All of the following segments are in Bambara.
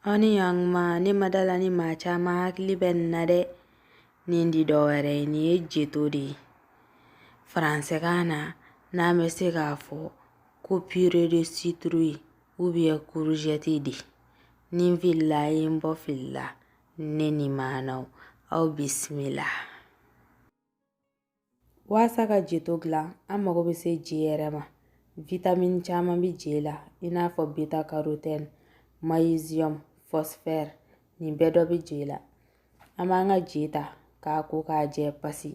Honnêtement ne ma da a la ni maa caman hakili bɛ nin na dɛ nin tɛ dɔwɛrɛ nin ye jeto de ye faransɛ kan na n'an bɛ se k'a fɔ ko purée de citrouille ou bien courgette de ni n filila a ye n bɔ fili la ne ni maanaw aw bisimila Waasa ka jeto gilan an mago bɛ se je yɛrɛ ma vitamini caman bɛ je la i n'a fɔ beta carotene magnesium phosphore nin bɛɛ dɔ bɛ je la an b'an ka je ta k'a ko k'a jɛ pasi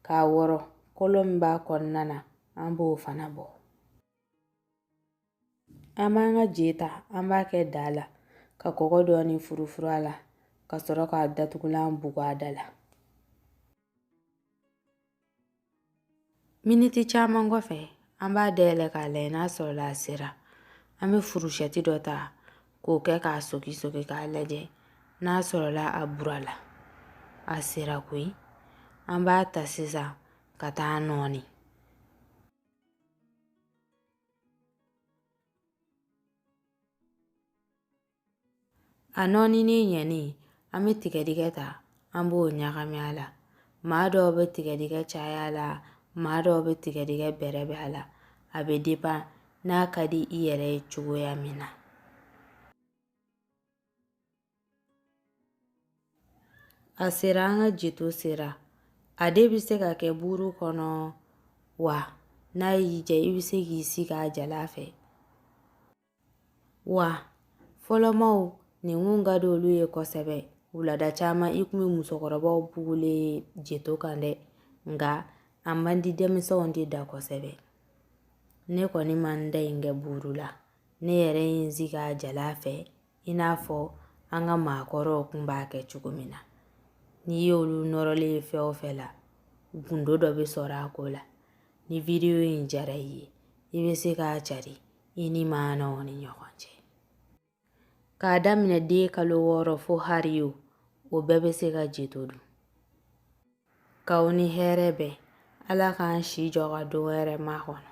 k'a wɔrɔ kolo min b'a kɔnɔna na an b'o fana bɔ an b'an ka je ta an b'a kɛ daa la ka kɔgɔ dɔɔni furufuru a la ka sɔrɔ k'a datugulan bugu a da la miniti caman kɔfɛ an b'a dayɛlɛ k'a lajɛ n'a sɔrɔla a sera an bɛ furusɛti dɔ ta k'o kɛ k'a soki soki k'a lajɛ n'a sɔrɔla a bura la a sera koyi an b'a ta sisan ka taa nɔɔni A nɔɔninen ɲɛnen an bɛ tigɛdɛgɛ ta an b'o ɲagami a la maa dɔw bɛ tigɛdɛgɛ caya a la maa dɔw bɛ tigɛdɛgɛ bɛrɛbɛn a la a bɛ dépend n'a ka di i yɛrɛ ye cogoya min na A sera an ka jeto sera a de bɛ se ka kɛ buuru kɔnɔ wa n'a y'i diya i bɛ se k'i sigi a jalan fɛ wa fɔlɔmaw nin kun ka di olu ye kosɛbɛ wulada caman i kun bɛ musokɔrɔbaw bugulen ye jeto kan dɛ nka a man di denmisɛnw de da kosɛbɛ ne kɔni ma n ta in kɛ buuru la ne yɛrɛ ye n sigi a jalan fɛ i n'a fɔ an ka maakɔrɔw kun b'a kɛ cogo min na n'i y'olu nɔrɔlen ye fɛn o fɛn la gundo dɔ bɛ sɔrɔ a ko la ni wideyo in diyara i ye i bɛ se k'a cari i ni maanaw ni ɲɔgɔn cɛ k'a daminɛ den kalo wɔɔrɔ fo hari o o bɛɛ bɛ se ka jeto dun k'aw ni hɛrɛ bɛn ala k'an si jɔ ka don wɛrɛ makɔnɔ